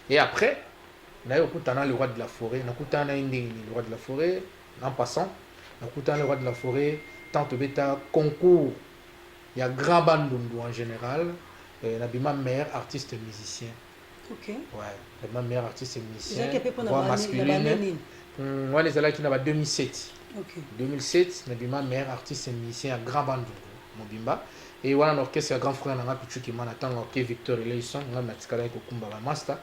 Et après, naye okutana le roi de la forêt, nakutana naye ndenge nini le roi de la forêt, en passant, nakutana le roi de la forêt, tant tobeta concours ya grand bandundu en général, euh, nabima meilleur artiste musicien. Ok. Ouais, nabima meilleur artiste musicien, Ezalaki mpe mpo na voix bani- na masculine. bani nini? Hmm, wana ezalaki na ba 2007. Ok. 2007 nabima meilleur artiste musicien ya grand bandundu mobimba Eeh wana na orchestre ya grand frère na nga Pitshou Kimana tango aoke Victor Eleyson nga natikalaki ko kumba ba masta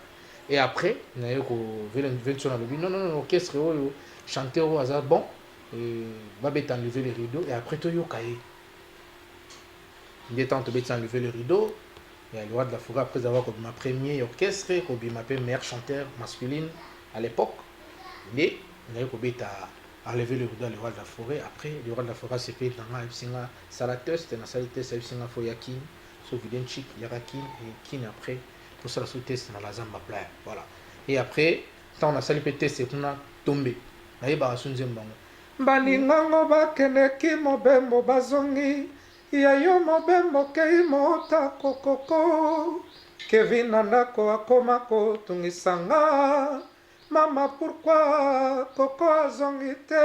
et après naye ko Venson alobi non non non orchestre oyo chanteur oyo aza bon ba beta enlever les rideaux et après to yoka ye nde tango to beti enlever les rideaux ya le roi de la forêt après avoir kobima premier orchestre kobima pe meilleur chanteur masculine à l'époque nde naye kobeta enlever le rideau ya le roi de la forêt après le roi de la forêt asepeli na nga ayebisi nga Sala test na sali test ayebisi nga faut ya kin so video chic yaka kin et kin après tosala so test na la zamba playa voilà et après ntango nasali mpe test kuna tombe nayebaka so nzembo yango balingango bakendeki mobembo bazongi ya yo mobembo kei mota kokoko kevin na ndako akoma kotungisa nga mama pourkui koko azongi te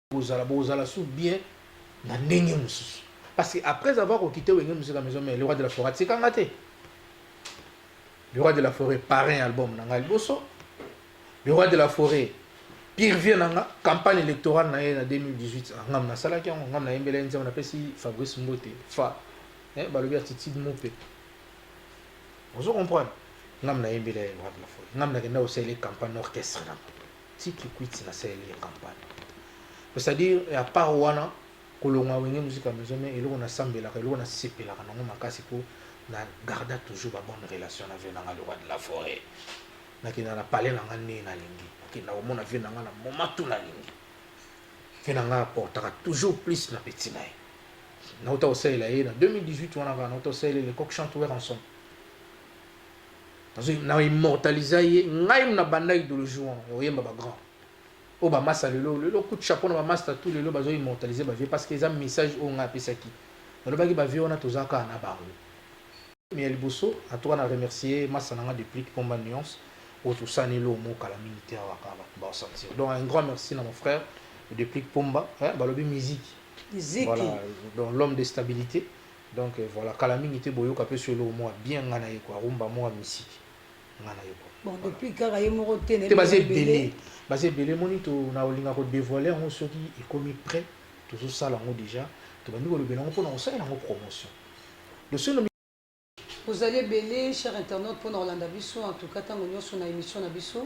Kozala bokozala su bien na ndenge mosusu parce que après avoir kokite wenge musique ya maison mais le roi de la forêt atika nga te le roi de la forêt parrain album na nga liboso le roi de la forêt pire vie na nga campagne électorale na ye na 2018 ah, ngam nasalaki yango ngam nayembela ye nzembo napesi fabrice mbote fa eh, balobi attitude mope ozo comprendre ngam nayembela ye roi de la forêt ngam nakenda kosalela campagne orchestre na nga Ti kikwit na saleli ye campagne c'est à dire à part wana kolongwa wenge musique ya maison mère eloko na sambelaka eloko na sepelaka nango makasi po na garda toujours ba bonne relation na vieux nanga le roi de la foret na kenda na palais nanga ne na lingi na kenda ko mona vieux nanga na moment tout na lingi vieux nanga apportaka toujours plus na petit na ye na uta osalela ye na 2018 wana kaka na uta osalela le coq chante wer ensemble na immortalisa ye ngai muna banda idologie wana ya koyemba ba grand oyo bamasta lelo lelo coup de chapeau na bamasta tout lelo bazo immortalise bavie parce que eza message oyo ngai apesaki nalobaki bavie wana toza kaka na bango mais ya liboso en tout cas na remercier masta na ngai deplic pomba nuance oyo tosani elo mo kala mingi te awa kaka bato baosentir donc un grand merci na mon frère deplic pomba balobi miziki voilà donc l'homme de stabilité Donc voilà kala mingi te boyoka pe solo mua bien nga naye quoi rumba mua misiki nga naye quoi bon depuis kaka ye moko te te baza ebele baza ebele moni to na olinga ko devoiler yango soki ekomi près tozo sala yango dejà tobandi kolobela yango pona kosala yango promotion le seul bozali ebele cher internaute pona kolanda biso en tout cas tango nyonso na emission na biso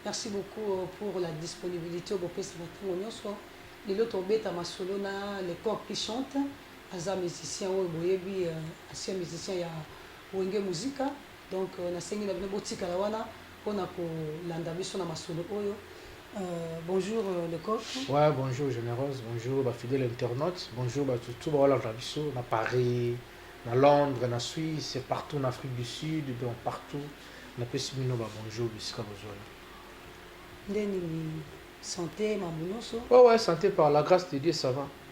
merci beaucoup euh, pour la disponibilité bopesaka tango nyonso lelo tobeta masolo na le corps qui chante Aza musicien oyo boyebi ancien musicien ya wenge musica donc na sengi na bino botikala wana pona ko landa biso na masolo oyo bonjour le coq. Ouais bonjour generose bonjour ba fidèle internaute bonjour batu tout bao landa biso na paris na londres na suisse et partout na afrique du sud donc partout na pesi bino ba bonjour bisika bozwani. Nde nini sante mambu nioso. Ouais ouais sante par la grace de dieu ça va.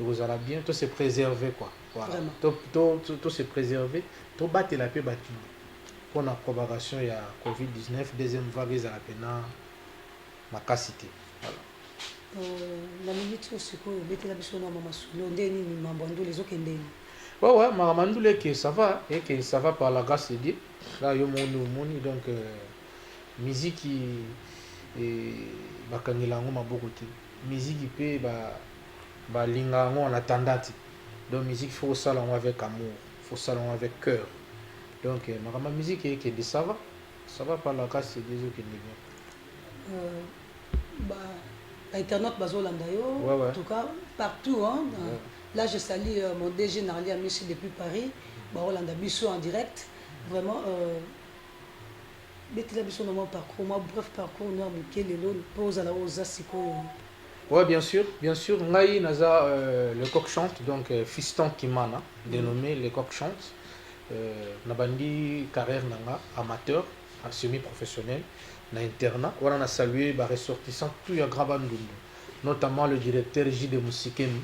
ekozala bien to se preserver quoi voilà to to to, to se preserver to batela pe batu pour la propagation ya covid 19 deuxième vague ezala pena makasi te voilà euh, na minute oyo sikoyo obetela biso na mama sulo nde nini mambo ya ndule ezokende nini ouais ouais mama mandule eke ça va eke ça va par la grâce de dieu là yo moni omoni donc euh, miziki eh, bakangela yango maboko te Musique pe ba ba linga yango en attendant donc musique il faut osala yango avec amour il faut osala yango avec coeur donc makambo ya musique ekende ça va ça va palakasi ezo kende bien. Euh, ba ba internautes bazo landa yo ouais, ouais. en tout cas partout hein dans, ouais. là je salue euh, mon DG Narli Amishi depuis Paris ba Rolanda biso en direct vraiment euh, Betela biso na mwa parcours, mwa bref parcours no ya moke lelo mpo ozala oyo oza sikoyo. Ouais, bien sûr, bien sûr. Ngai naza euh, le coq chante, donc euh, Fiston Kimana, mm. dénommé le coq chante. Euh, nabandi carrière nanga amateur, en semi-professionnel, na internat. Voilà, on a salué ba ressortissants tout ya Graba Ndundu, notamment le directeur J de Musikemi.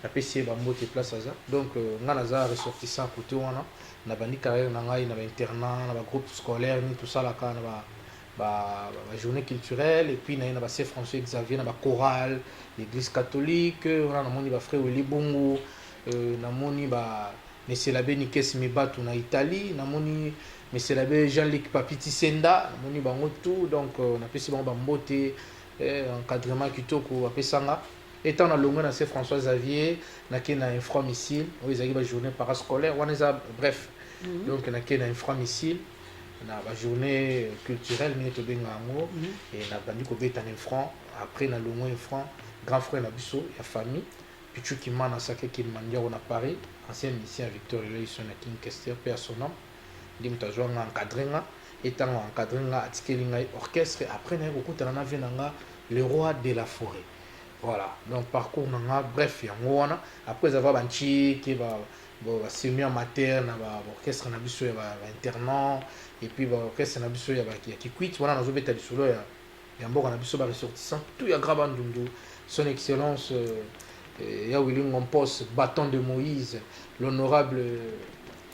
Na pesi ye ba mbote place aza. Donc nga naza ressortissant cote wana. Na bandi carrière na ngai na ba internats, na ba groupes scolaires nini to salaka, na ba ba journees culturelles et puis naye na ba Saint François Xavier, na ba chorales ya eglise catholique. Wana na moni ba frère Willy Bungu, na moni ba Monsieur l'Abbe Nikes Mibatu na Italie, na moni Monsieur l'Abbe Jean Luc Papy Tisenda, na moni bango tout. Donc na pesi bango ba mbote, encadrement kitoko ba pesa nga. Etant na longwe na se François Xavier na ke na infra missile oyo ezalaki ba journee parascolaire wana eza bref donc na ke na infra missile na ba journee culturelle ndenge tobenga yango et na bandi kobeta na infra après na longwe infra grand frère na biso ya famille Pichu Kimana Sacre Cœur Mandiago na Paris ancien musicien ya Victor Elieson na King Kester paix à son ame Nde moto azua nga encadre nga et tango a encadre nga atikeli ngai orchestre après naye kokutana na vieux na nga le roi de la foret voilà donc parcours na nga bref yango wana après eza va ba ntsheke ba ba semi amateur na ba orchestre na biso ya ba internat et puis ba orchestre na biso ya ba ya kikwit wana nazo beta lisolo ya ya mboka na biso ba ressortissants tout ya Grand Bandundu son excellence euh, ya Willy Ngompos bâton de Moïse l'honorable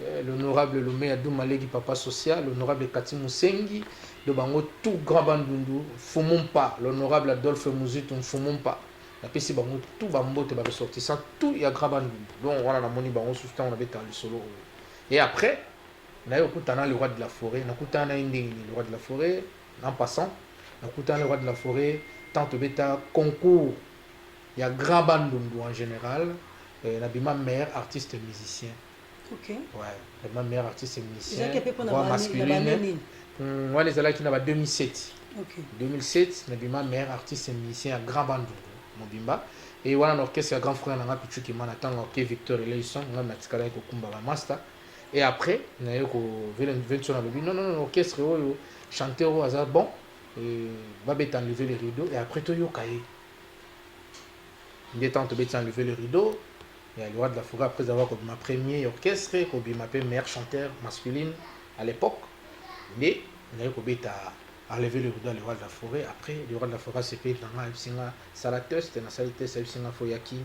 euh, l'honorable Lumea Dumalegi papa social l'honorable Kati Musengi de bango tout Grand Bandundu Fumumpa l'honorable Adolphe Muzitu Fumumpa napesi bango tout bambote ba ressortissant tout ya Grand Bandundu donc wana namoni bango susu ntango nabetaka lisolo oyo et après naye okutana le roi de la forêt nakutana na ye ndenge nini le roi de la forêt En passant, nakutana na Roi de la foret tant tobeta concours ya grand bandundu en general, euh, nabima meilleur artiste musicien. Ok. Ouais, nabima meilleur artiste musicien. Ezalaki mpe mpo na voix bani- na masculine. bani nini? Hmm, wana ezalaki na ba 2007. Ok. 2007 nabima meilleur artiste musicien ya grand bandundu mobimba e wana na orchestre ya grand frère na nga pichu kimana ntango ake victor eleison nga natikalaki kokumba bamasta Et après, nayo ko Venson alobi non non non orchestre oyo chanteur oyo aza bon et va bet enlever les rideaux et après to yoka ye. Nde tant to bet enlever les rideaux et à l'Iwa de la Foura après avoir comme ma premier orchestre ko bima pe meilleur chanteur masculine à l'époque. Nde nayo ko bet à enlever les rideaux à l'Iwa de la Forêt après l'Iwa de la Forêt c'est payé dans ma singa sala test na sali test à singa fo yakin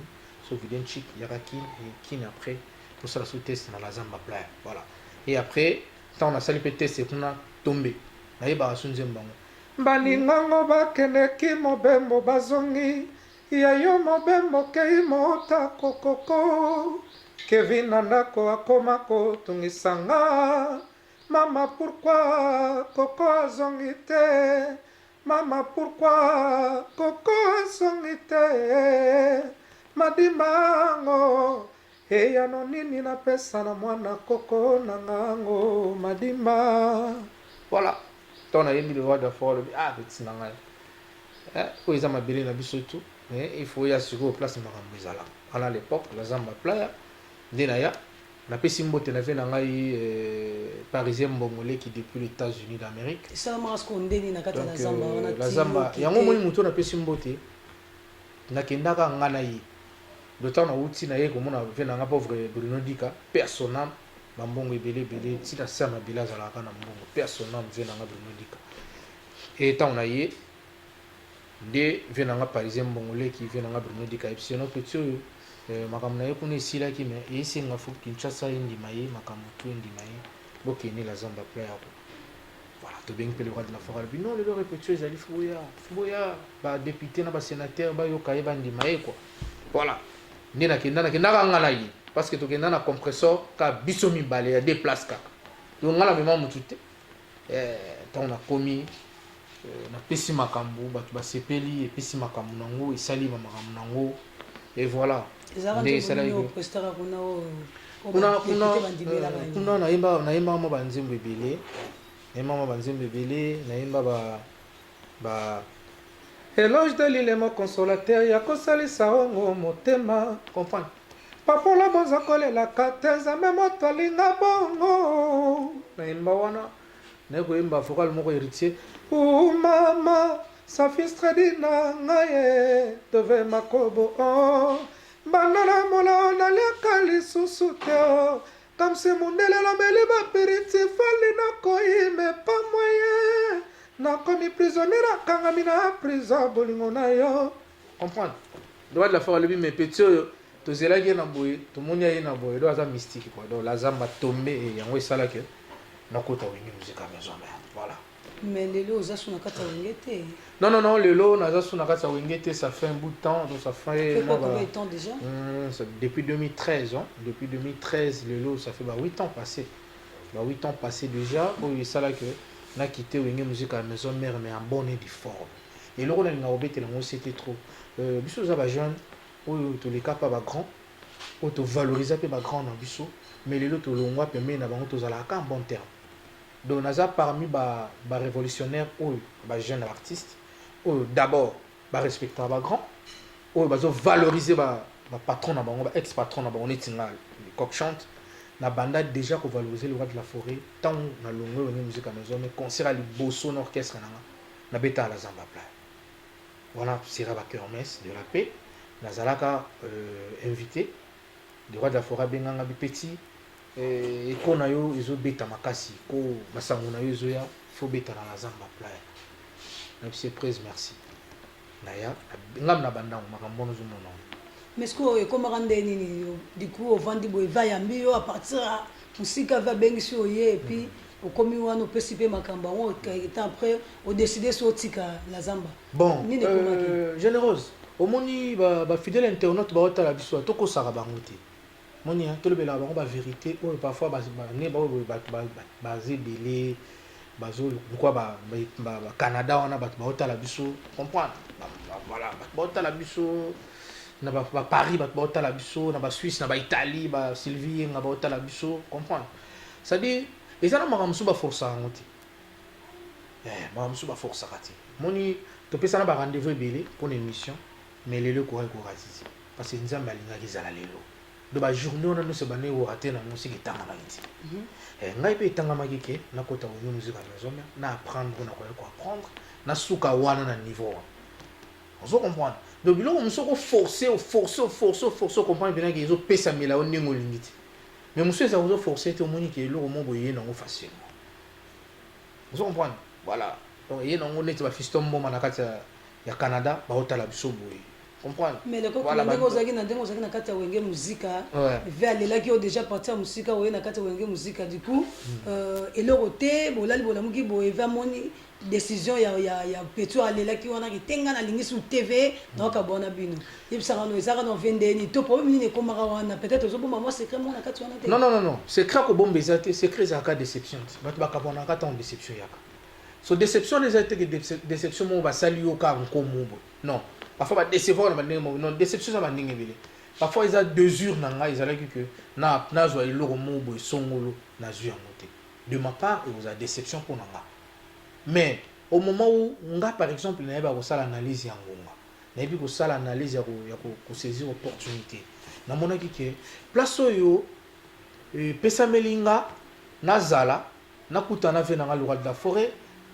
so vident chic yaka kin et kin après Tosala su test na Lazamba Playa. Voilà. Et après, ntango nasali mpe test kuna tombe. Nayebaka su nzembo yango. Baningango bakendeki mobembo bazongi ya yo mobembo kei mota kokoko Kevin na ndako akoma kotungisa nga Mama pourquoi koko azongi te Mama pourquoi koko azongi te madimba yango eyano nini na pesa na mwana koko na nga yango madimba voilà to na yembi le roi de fort lobi ah petit na ngai eh, oyo eza mabele na biso tu eh, il faut ya sikoyo place makambo ezala wana l'époque naza maplaya nde na ya Na pesi mbote na vie na ngai parisien mbongo leki depuis les etats unis d'amerique esalamaka siko ndeni na kati ya lazamba euh, wana lazamba yango omoni moto na pesi mbote nakendaka nga na ye le temps nauti na ye komona vie na nga pauvre bruno dika personam bambongo ebele ebele ntina ser mabila azalaka na mbongo personam vie na nga bruno dika e ntango na ye Nde vieux na nga parisien mbongo leki vieux na nga Bruno Dika Epsi no petit oyo euh, makambo na ye kuna esilaki me esenga fo Kinshasa endima ye makambo tu endima ye bokende la zamba pla ya ko voilà tobengi mpe le roi de la forêt alobi non lelo repetition ezali fo boya fo boya ba député na ba sénateur bayoka ye bandima ye quoi voilà nde nakenda nakendaka nga na ye parce que tokenda na compressor ka biso mibale ya deux place kaka donc nga na mema motu te Eh, ntango nakomi eh, napesi makambo bato basepeli, epesi makambo nango, esali ba makambo nango et voilà nde esalaki kuna nayemba nayemba mwa banzembo ebele nayemba mwa banzembo ebele nayemba ba Ba eloges de l'ile mon consolateur ya ko salisa o ngo motema. Comprendre. Papa la bonza ko lela ka te nzambe moto alinga bongo na yemba wana na ko yemba vocal moko héritier. Ooh mama sa fils très dit na ngaye dove makobo oh banda na molo naliaka lisusu te oh Kamse mundele alobeli ba piriti fally na koyi me pa moyen na komi prisonnier na kangami na prison bolingo na yo comprendre droit de la femme alobi me petit oyo tozelaki ye na boye tomoni aye na boye do aza mystique quoi donc la zamba tombe et yango esala que nakota wenge musique ya maison mère voilà Mais lelo oza sous na kati ya wenge te. Non non non lelo naza sous na kati ya wenge te ça fait un bout de temps donc ça fait moi combien de temps déjà mmh, ça, depuis 2013 hein depuis 2013 lelo ça fait ba 8 ans passé ba 8 ans passé déjà oyo esala que na quitter wenge musique à la maison mère mais en bonne et due forme eloko nalinga kobetela yango c'était trop euh, biso oza bajeune oyo toleka mpa bagrand oyo tovaloriza mpe bagrand na biso mais lelo tolongwa pembeni na bango tozalaka ka en bon terme Donc naza parmi ba ba revolutionnaires oyo ba jeunes artistes oyo d'abord ba respectaka ba grands oyo bazo valoriser ba ba patrons na bango ba ex patrons na bango neti nga le coq chante na banda dejà ko valoriser le roi de la forêt tango na longwe wenge musique ya maison mais concert ya liboso na orchestre na nga na betaka la zamba playa wana sera ba kermesse de la paix nazalaka euh, invité le roi de la forêt abenganga bi petit Eh, eko na yo ezo beta makasi ko masango na yo ezo ya faut beta na la zamba playa na bise prise merci na ya ngam na bandango makambo wana ozomona mais sikoyo ekomaka nde nini yo du coup ovandi boye va yambi yo à partir ya mosika va abengisi oye et puis mm -hmm. okomi wana opesi mpe makambo yango temps après odeside so otika na zamba bon nini ekomaki euh, générose omoni bafidèle internaute baotala biso tokosaka bango te Omoni hein tolobelaka bango ba verite oyo parfois ba nde baoyo boye batu baza ebele bazo lokola ba ba Canada wana batu bao tala biso comprendre voilà batu bao tala biso na ba ba Paris batu bao tala biso na ba Suisse na ba Italie ba Sylvie Yenga bao tala biso comprendre c'est à dire eza na makambo mosusu ba forcaka yango te eh makambo mosusu ba forcaka te moni topesana ba rendez-vous ebele mpo na émission Mais lelo ekokaki ko rater te parce que Nzambe alingaki ezala lelo. Donc ba journees wana nionso ebandaki ko rater nango seke etangamaki te. Eh ngai pe etangamaki ke nakota Wenge Music en Maison-Mère, na apprendre oyo nakoya ko apprendre, nasuka wana na niveau wana. Ozo comprendre? Donc biloko mosusu oko forcer, o forcer, o forcer, o forcer, o comprendre pena ke ezo pesamela yo ndenge olingi te. Mais mosusu ezala ozo forcer te, omoni ke eloko moko boye eye nango facilement. Ozo comprendre? Voilà. Donc eye nango neti ba Fiston Mboma na kati ya ya Canada bao tala biso boye comprendre mais le coq na ndenge ozaki na ndenge ozaki na kati ya wenge musica ve alelaki yo déjà partir ya musica oye na kati ya wenge musica du coup hmm. euh, eloko te bolali bolamuki boye ve amoni décision ya, ya, ya petio alelaki wana kitenga na lingi sur tv naoka bona bino yebisaka no ezaka na vendeni to problème nini ekomaka wana peut-être ozobomba mwa secret moko na kati wana te non non non non secret akobomba eza te secret ezalaka déception te bato bakabanaka ntango déception yaka So deception wana eza te ke deception moko basali yo kaka nkomo boye. Non. Parfois ba decevoir na ba ndenge moko. Non, deception eza ba ndenge ebele. Parfois eza desure na ngai ezalaki que na nazwa eloko moko boye songolo nazwi yango te. De ma part ekozala deception mpo na nga. Mais au moment où nga par exemple nayeba kosala analyse ya ngonga, nayebi kosala analyse ya ko ya ko saisir opportunite. Namonaki que place oyo epesameli nga nazala Na kutana na vie na nga le roi de la foret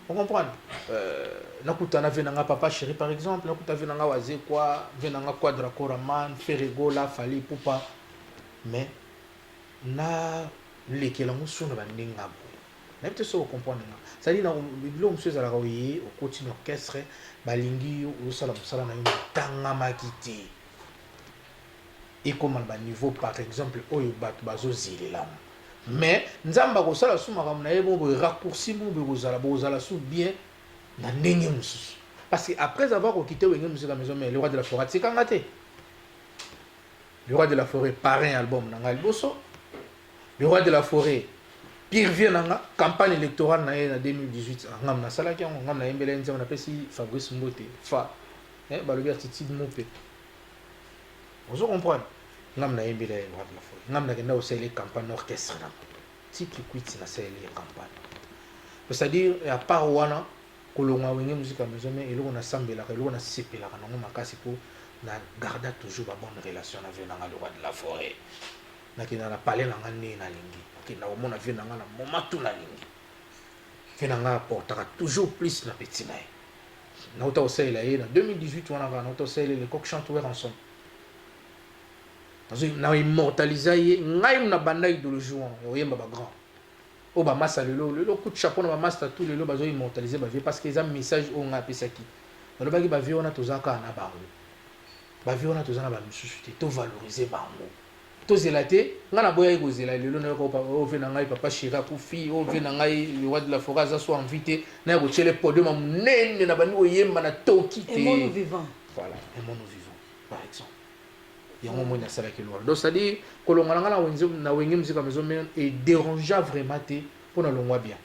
o comprendre euh, Na kutana na vie na nga papa chéri par exemple Na kutana vie na nga wazekwa vie na nga quadra cora man ferre gola fally ipupa mais na lekela ngo so na ba ndenge nga boye na bite so o comprendre nga ça dit na bilo musu ezalaka oye okoti na orchestre balingi yo osala musala na yo tangamaki te ekoma na ba niveau par exemple oyo batu bazo zelelama mais nzambe akosala su makambo na ye moko boye raccourci moko boye kozala bokozala su bien na ndenge mosusu parce que après avoir kokite wenge musique ya maison mais le roi de la forat sikanga te le roi de la forêt parrain album na ngai liboso le roi de la forêt pire vie na nga campagne électorale na ye na 2018 ngam nasalaki yango ngam nayembela ye nzembo napesi fabrice mbote fa eh, balobi atitide mope ozo comprendre ngam na yembi la rap na fo ngam na kenda osele campagne orchestre na tiki kwiti na sele ye campagne c'est à dire à part wana kolonga wenge musique ya maison mais eloko na sambelaka eloko na sepelaka nango makasi po na garda toujours ba bonne relation na vieux na nga le roi de la forêt na kenda na palais na nga ne na lingi kenda komona vieux na nga na moment tout na lingi vieux na nga portaka toujours plus na petit na ye Nauta kosalela ye na 2018 wana kaka nauta kosalela ye lecoq chante werranson nazwi na immortalisa ye ngai muna banda idologie wana ya koyemba bagrand oyo bamasta lelo lelo coup de chapeau na bamasta tout lelo bazo immortalise bavie parce que eza message oyo ngai apesaki nalobaki bavie wana toza kaka na bango bavie wana toza na bamisusu te tovalorise bango Tozela te nga na boyaki kozela lelo na yoka opa ove na ngai papa chéri akufi ove na ngai le roi de la forêt aza so envie te na ya kotiele podium ya monene na bandi koyemba na toki te aimons nous vivant voilà aimons nous vivant par exemple yango moi nasalaki lwala donc c'est à dire kolonga na ngai na wenge musique ya maison mère e dérangea vraiment te mpo na longwa bien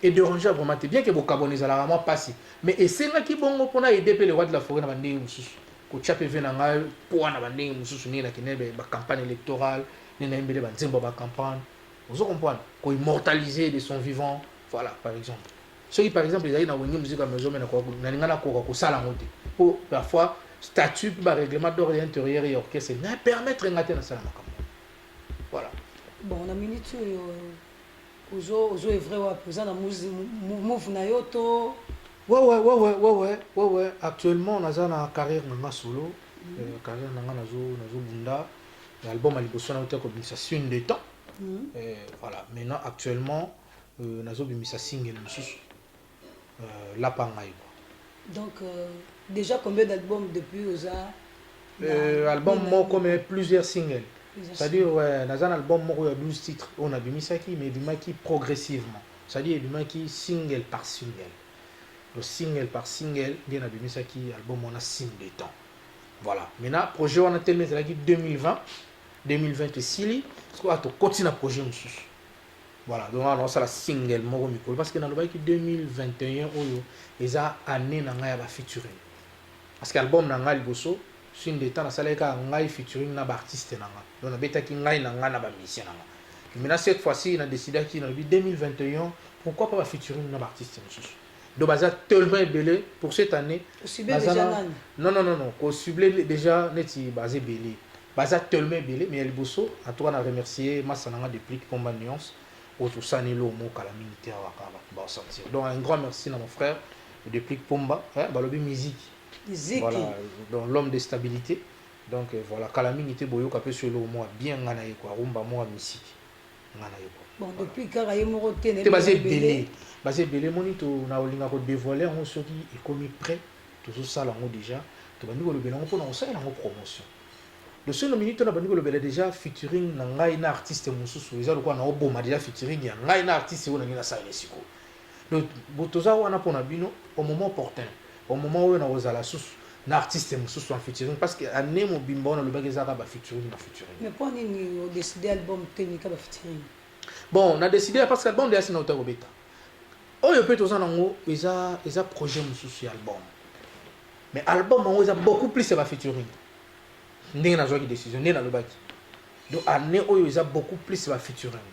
E derangea vraiment te bien que bokabwana ezalaka mwa pasi mais esengaki bongo po na aider pe le roi de la foret na ba ndenge mosusu kotia pe vie na ngai poids na ba ndenge mosusu ndenge na kendee ba campagne electorale nde na yembele ba nzembo ya ba campagne ozo comprendre ko immortaliser de son vivant voilà par exemple soki par exemple ezali na wenge musique ya maison mais na linga na koka kosala yango te po parfois statut pe ba règlement d'ordre ya intérieur ya orchestre na permettre nga te na sala makambo voilà bon na minute oyo Ozo ozo evre wapi oza na move na yo to wewe wewe wewe wewe actuellement naza na carrière na nga solo mm. euh, carrière na nga nazo nazo bunda na album ya liboso na uta kobimisa sune de temps mm. euh, voilà maintenant actuellement euh, nazo bimisa single mosusu lapa ngai quoi. Donc dejà combien d'albums depuis oza euh, album moko mais plusieurs singles c'est-à-dire ouais, naza na album moko ya 12 titres oyo nabimisaki mais ebimaki progressivement c'est-à-dire ebimaki single par single donc single par single nde nabimisaki album wana signe de temps voilà maintenant projet wana telema ezalaki 2020 2020 esili sikoyo tokoti na projet mosusu Voilà, donc awa naosala single moko mikolo parce que nalobaki 2021 oyo eza année na ngai ya ba featuring parce que album na ngai liboso fin de temps nasalaki kaka ngai featuring na baartiste na ngai donc nabetaki ngai na ngai na bamusicien na ngai maintenant cette fois ci na décidaki nalobi 2021 pourquoi pas ba featuring na baartiste mosusu donc baza tellement ebele pour cette année non non non non kocible déjà neti baza ebele Baza tellement ebele mais ya liboso en tout cas na remercier masta na nga Deplick Pomba Nuance oyo tosani eloko moko kala mingi te awa kaka batu bao sentir donc un grand merci na mon frère Deplick Pomba eh, balobi miziki Ziki. voilà donc l'homme de stabilité donc euh, voilà kala mingi te boyoka pe so eloko moko bien nga na ye quoi rumba moko ya misiki nga na ye quoi Bon, Voilà. depuis kaka ye moko te na te baza ebele baza ebele moni to na olinga ko devoile yango soki ekomi près Tozo sala yango dejà, tobandi kolobela yango pona kosalela yango promotion. Le seul minute wana bandi kolobela dejà featuring na ngai na artiste mosusu, eza lokola nao boma dejà featuring ya ngai na artiste oyo nalingi nasala ye sikoyo. Donc toza wana pona bino au moment opportun, au moment oyo nakozala susu na artiste mosusu en featuring parce que annee mobimba oyo nalobaki eza kaka ba featuring na featuring. Mais pona nini o decider album te meka ba featuring? Bon na decider parce que album dejà esi nauta kobeta. Oyo pe toza na ngo eza eza projet mususu ya album mais album yango eza beaucoup plus ya ba featuring ndenge nazwaki decision nde nalobaki donc année oyo eza beaucoup plus ba featuring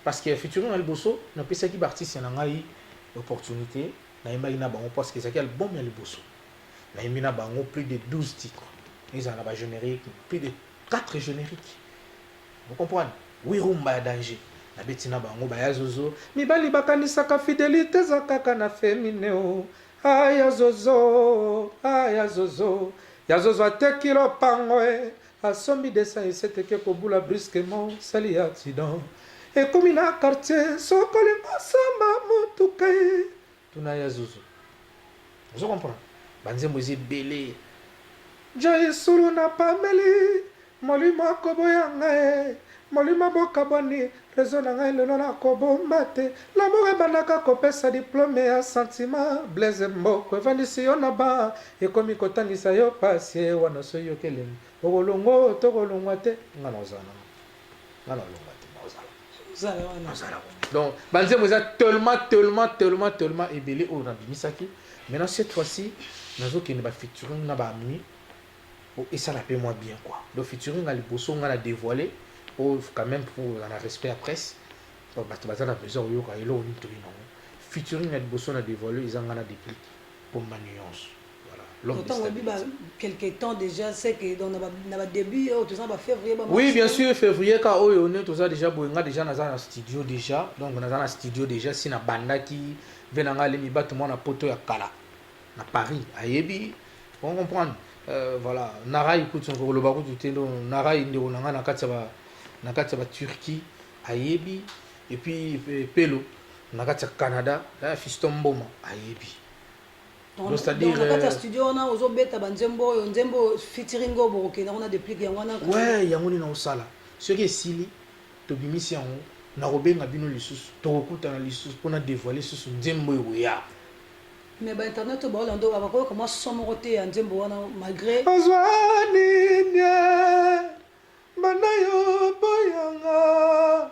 parce que ya featuring ya liboso napesaki baartiste na ngai opportunité nayembaki na bango parce que ezalaki album ya liboso nayembi na bango plus de 12 titres ezala na ba générique plus de 4 générique Vous comprendre? Oui rumba ya danger na beti na bango ba ya zozo mibali ba kanisaka fidelite eza kaka na femine oh ah ya zozo ah ya zozo ya zozo ateki lopango eh asombi desa eseteke kobula brusquement sali ya accident ekomi na quartier sokolingo samba motuka eh Tuna ya zuzu ozo comprendre ba nzembo eza ebele Joyeux solo na pameli molimo akoboya ngaye molimo bokabwani reseau na ngai lelo na kobomba te lamour ebandaka kopesa diplome ya sentiment blaise mboko evandisi yo na ba ekomi kotangisa yo pasie wana soki yoki elengi okolongwa oyo tokolongwa te nga nakozala na nga na longa te ozala wana ozala donc banzembo eza tellement tellement tellement tellement ebele oyo nabimisaki maintenant cette fois ci nazokende bafeaturing na baami po esala mpe mwa bien quoi donc featuring ya liboso nga na dévoile po quand même po oza na respect ya presse bato baza na besoin oyoka eloko nini toyina yango featuring ya liboso na dévoile eza nga na déplique pomba nuance Oui, bien sûr, février, quand on est, tout ça déjà, Boenga déjà dans un studio déjà, donc on a dans un studio déjà, si na banda qui vient en aller, mi bat moi na poto ya kala, na Paris, à Yebi, on comprend, euh, voilà, Nara écoute son gros lobaku du tendo, Nara inde on a na katsaba, na katsaba Turquie, à Yebi, et puis Pelo, na katsaba Canada, là, Fiston Boma, à Yebi. Donc, Donc, c'est-à-dire, donc, na kati ya euh, studio wana ozobeta banzembo oyo nzembo oyo featuring oyo bokokenda kuna deplique yango wana we yango nini nakosala soki esili tobimisi yango nakobenga bino lisusu tokokutana lisusu mpo na devoile lisusu nzembo ekoya mais bainternet oyo baolando bakoyoka mwa son moko te ya nzembo wana malgré nazwa nini banda yo boyanga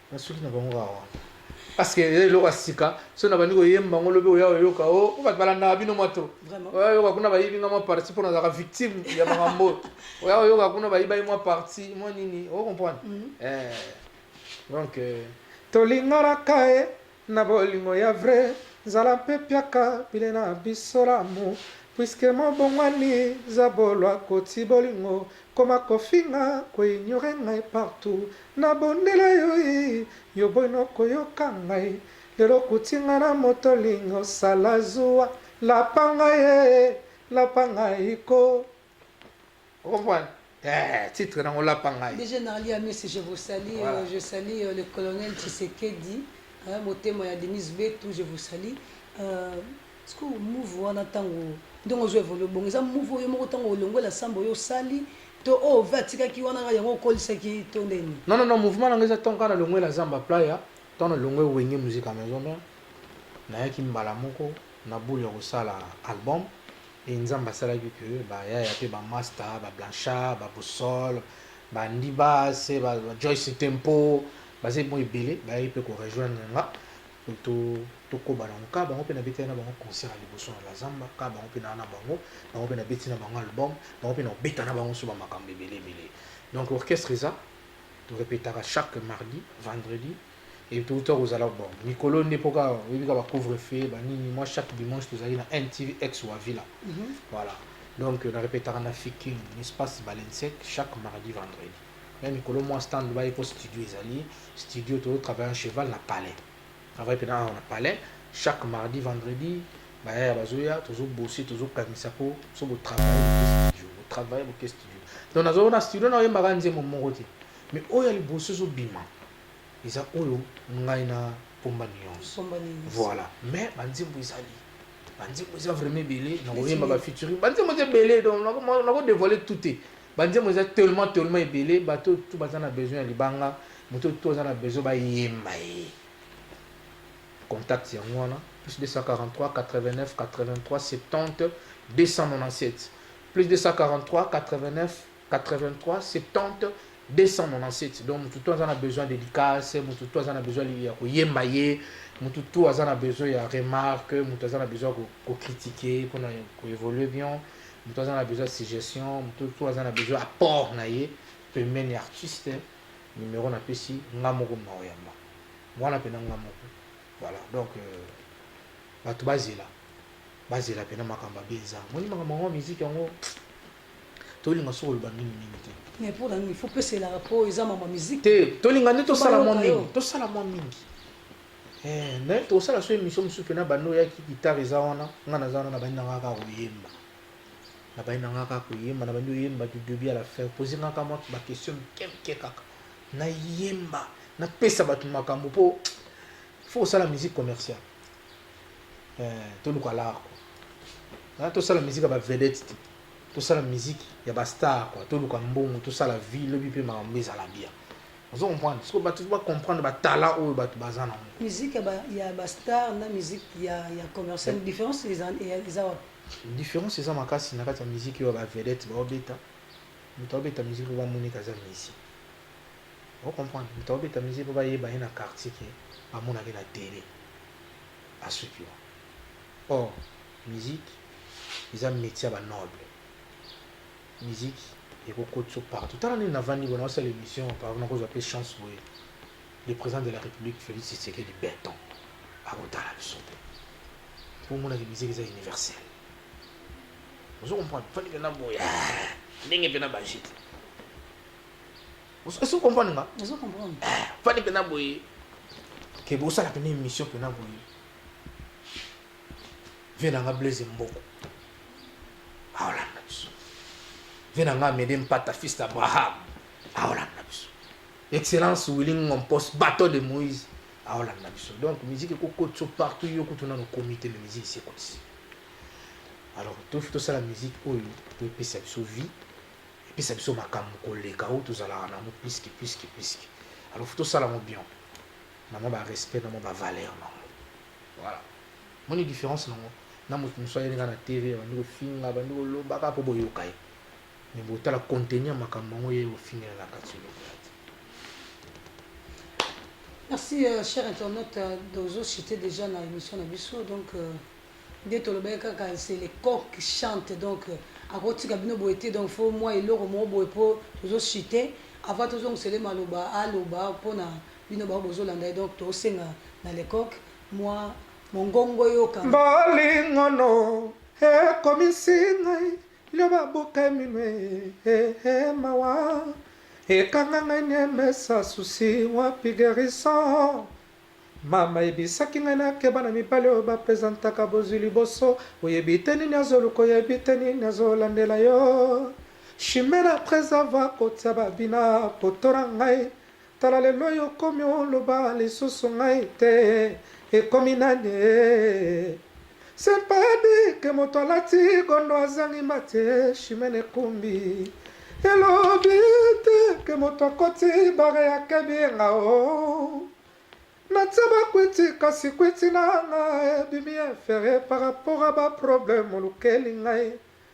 nasuki na bango awa parce que eza eloko ya sika so na bandi koyemba yango lobi oya oyoka o oh, bato balandaka bino mwa to oya oyoka kuna bayibi nga mwa parti mpo nazalaka victime ya makambo oyo oya oyoka kuna bayibaki mwa parti mwa nini o oh, comprendre mhm. eh, donc euh, tolinganaka ye Na bolingo ya vrai zala mpe piaka pile na biso l'amour puisque mobongwani zabolua koti bolingo koma kofinga ko ignorer ngai partout na bondela yo yy yo boyi noko yoka ngai lelo okuti ngai na moto olingi osala zuwa lapa ngai yy lapa ngai koo. okomprendre eh, titre nango olapa ngai déjà nalia misi je vous salie voilà. Euh, je salie euh, le colonel tshisekedi motema ya denise betu je vous salie euh, siko move wana ntango ndenge ozwa evole bongo eza move oyo moko ntango olongwe la samba oyo osali to oyo oh, ve atikaki wana kaka yango okolisaki to ndeni non non non mouvement nango eza ntango kaka nalongwe la zamba playa ntango nalongwe wenge musique ya maison mère nayaki mbala moko na bule ya kosala album Et Nzambe asalaki que ba yaya pe ba masta, ba Blanchard, ba Boussole, ba Ndibas, ba Joyce Tempo, bazali mwa ebele bayaki pe ko rejoindre nga po to tokoba nango ka bango pe nabetaki na bango concert ya liboso na la zamba ka bango pe naa na bango bango pe nabeti na bango album bango pe naobeta na bango so ba makambo ebele ebele donc orchestre eza torepetaka chaque mardi vendredi Et tout ça kozala bon mikolo nde po kaka oyebi kaka ba couvre feu ba nini moi chaque dimanche tozali na NTV ex Wavila voilà donc na repetaka na Fikin na espace Balensec chaque mardi vendredi mais mikolo moi stand baye po studio ezali studio tozo travailler en cheval na palais travaille pena awa na palais chaque mardi vendredi bayaya bazoya tozo bosser tozo kangisa po so bo travailler boke studio bo travailler boke studio donc nazo na studio na oyembaka nzembo moko te mais oyo ya liboso ezobima eza oyo ngai na pomba nuance voilà mais banzembo ezali banzembo eza vraiment ebele nakoyemba bafeaturing banzembo eza ebele donc nakodevoile tout te banzembo eza tellement tellement ebele bato tu baza na besoin ya libanga moto tu aza na besoin bayemba ye contact yango wana plus 243 89 83 70 297 plus 243 89 83 70 297 donc motu to aza na besoin dédicace motu to aza na besoin ya koyemba ye motu to aza na besoin ya remarque motu aza na besoin ya kocritique mpona koévolue bien motu aza na besoin ya suggestion motu to aza na besoin apport na ye pembeni ya artiste numero napesi nga moko maoyamba wana mpena nga moko voilà donc euh, bato bazela bazela mpena makambo abe eza moni makambo yango miziki yango tolinga soki oloba mingi mingi te mais mpo na nini fo pesa elaka mpo eza mama miziki te tolinga nde tosala mwa mingi tosala mwa mingi eh, me tokosala so émission mosusu mpena banda oyaki gitare eza wana ngai naza wana nabandi na ngaka koyemba nabandi na ngaka koyemba nabandi oyemba du début à la fin pose ngaka mwa baquestion mike mike kaka nayemba napesa bato makambo mpo fo kosala musique commerciale Eh, toluka l'art quoi. Hein, tosala musique ya ba vedette te. Tosala musique ya ba star quoi. Toluka mbongo, tosala vie, lobi pe makambo ezala bien. Ozo comprendre? Siko bato ba comprendre ba talent oyo bato baza na ngo. Musique ya ba ya ba star na musique ya ya commercial yeah. différence eza eza wapi? Différence eza makasi na kati ya musique oyo ba vedette ba obeta. Moto abeta musique oyo ba moni kaza musique. Ozo comprendre? Moto akobeta musique po bayeba ye na quartier que bamonaka ye na tele asuki wana. Or musique eza metier ya ba nobles. Musique eko kotisa yo partout. Tala ndenge navandi boye nazo sala emission par exemple nakozwa pe chance boye le president de la republique Felix Tshisekedi Beton ako tala biso pe po omona que musique eza universel. Ozo comprendre? Fandi pena boye eeh ndenge pena bajeti. Est-ce que comprendre nga? Est-ce que comprendre? Eh, fani pena boye. Ke bo sala pena émission pena boye. Vena nga Blaise Mboko. Aola na biso. Vena nga Mede Mpata fils d'Abraham. Aola na biso. Excellence Willy Ngompos bateau de Moïse. Aola na biso. Donc musique eko kotso partout yo kutuna no comité de musique c'est comme ça. Alors, tout ça la musique oyo to pesa biso vie epesa biso makambo koleka oyo tozalaka na yango plus que plus que plus que alors faut tosala yango bien na mwa ba respect na mwa ba valeur na yango voilà moni différence na yango na moto mosusu ayeli nga na tv abandi kofinga abandi koloba kaka mpo boyoka ye me botala konteni ya makambo yango ye ofingela na kati Merci, euh, cher internaute. Euh, Dozo, j'étais déjà dans l'émission Nabiso, donc. Euh... Nde tolobaki kaka c'est le coq qui chante donc ako tika bino boye te donc faut mua eloko moko boye po tozo chute avant tozongisa ye maloba aloba pona bino bango bozo landa ye donc to senga na le coq mua mongongo eyokana. Bolingo no ekomisi ngai lioba buke minwe eh eh mawa ekanga ngai niemesa souci wapi guerison Mama ayebisaki ngai nakeba na mibali oyo ba presentaka bozwi liboso, oyebi te nini azo luka oyebi te nini azo landela yo chimere après avoir kotia ba bina poto na ngai tala lelo yo okomi oloba lisusu ngai te ekomi naniee. C'est pas dit que moto alati gondo azangi mbate chimene ekumbi elobi te ke moto akoti bare ya kebienga o oh. natia bakwiti kasi kwiti na nga ebimi infere par rapport a baproblème olukeli ngai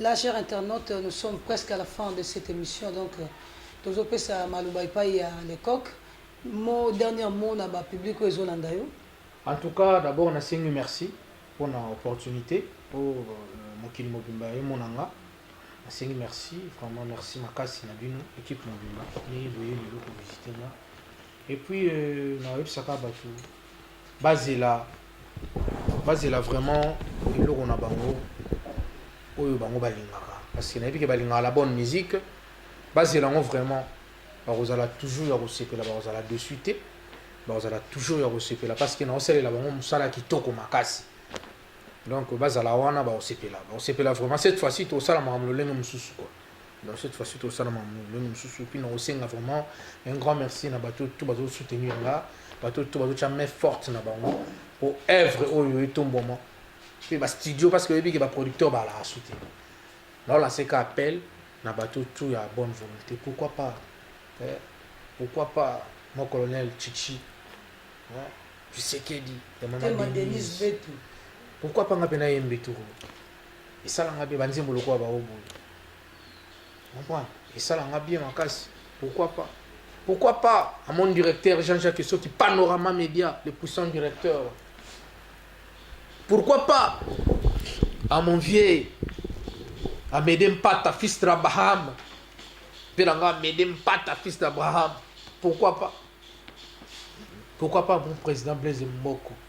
La chère internaute nous sommes presque à la fin de cette emission donc tozo pesa maloba epayi ya le coq mot dernière mot na ba public oyo ezo landa yo. En tout cas d'abord na sengi merci pona opportunite po mokili mobimba emona nga na sengi merci vraiment merci makasi na bino equipe mobimba ndenge boye lelo ko visite nga et puis na yebisa ka batu Bazela bazela vraiment eloko na bango oyo bango balingaka parce que nayebi ke balingaka la bonne musique bazela yango vraiment bakozala toujours ya kosepela bakozala dessus te bakozala toujours ya kosepela parce que naosalela bango mosala kitoko makasi donc bazala wana baosepela baosepela vraiment cette fois-ci tosala makambo lolenge mosusu quoi Donc cette fois-ci tout ça même mususu puis non senga vraiment un grand merci na bateau tout bateau soutenir là bateau tout bateau main forte na bango pour œuvre oyo etomboma puis ba studio parce que yebi ba producteur ba la soutenir là là c'est appel na bateau tout ya bonne volonté pourquoi pas eh? pourquoi pas mon colonel Chichi hein? tu sais qu'elle dit maman Denise pourquoi pas nga pena yembe tout esala nga bien banzembo lokola baoyo boye comprendre esala nga bien makasi pourquoi pas pourquoi pas à mon directeur Jean-Jacques Soki Panorama Média le puissant directeur pourquoi pas à mon vieux Amédée Mpata fils d'Abraham mpe na nga Amédée Mpata fils d'Abraham pourquoi pas pourquoi pas mon président Blaise Mboko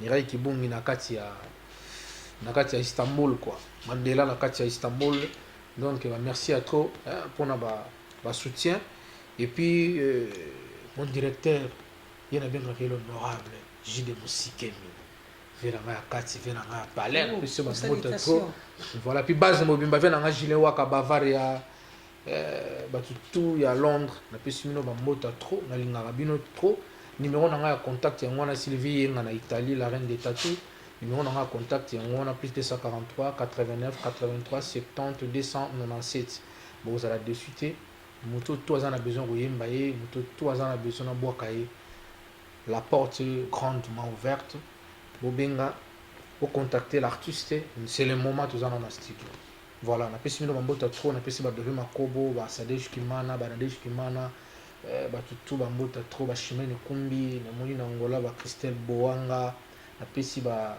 Mireille kibungi na kati ya na kati ya Istanbul quoi Mandela na kati ya Istanbul donc ba merci ya trop hein, pona ba ba soutien et puis euh, mon directeur ye na bengaka ye l'honorable Jide Musikemi vie na ngai ya kati vie na ngai ya palais oh, biso ba mbote trop voilà puis base mobimba vie na ngai Julien Waka Bavaria Eh, batu tout ya Londres napesi bino bambota trop, nalingaka bino trop. Numero na ngai ya contact yango wana, Sylvie Yenga na Italie, la reine des tatous. Numero na ngai ya contact yango wana, plus 243 89 83 70 297. Bokozala dessus te, moto to aza na besoin koyemba ye, moto to aza na besoin nabwaka ye, la porte grandement ouverte. Bobenga, bocontacte l'artiste, c'est le moment tozana na studio. Voilà, napesi bino bambote ya trop, napesi ba Dove Makobo, ba Sadej Kimana, ba Nadej Kimana, eh, ba Tutu bambote ya trop, ba Chimene Kumbi, namoni na Angola ba Christelle Boanga, napesi ba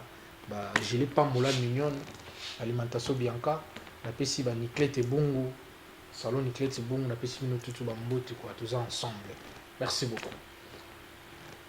ba Gile Pambola Mignon, Alimentation Bianca, napesi ba Niclette Bungu, Salon Niclette Bungu, napesi bino tutu bambote quoi, toza ensemble. Merci beaucoup.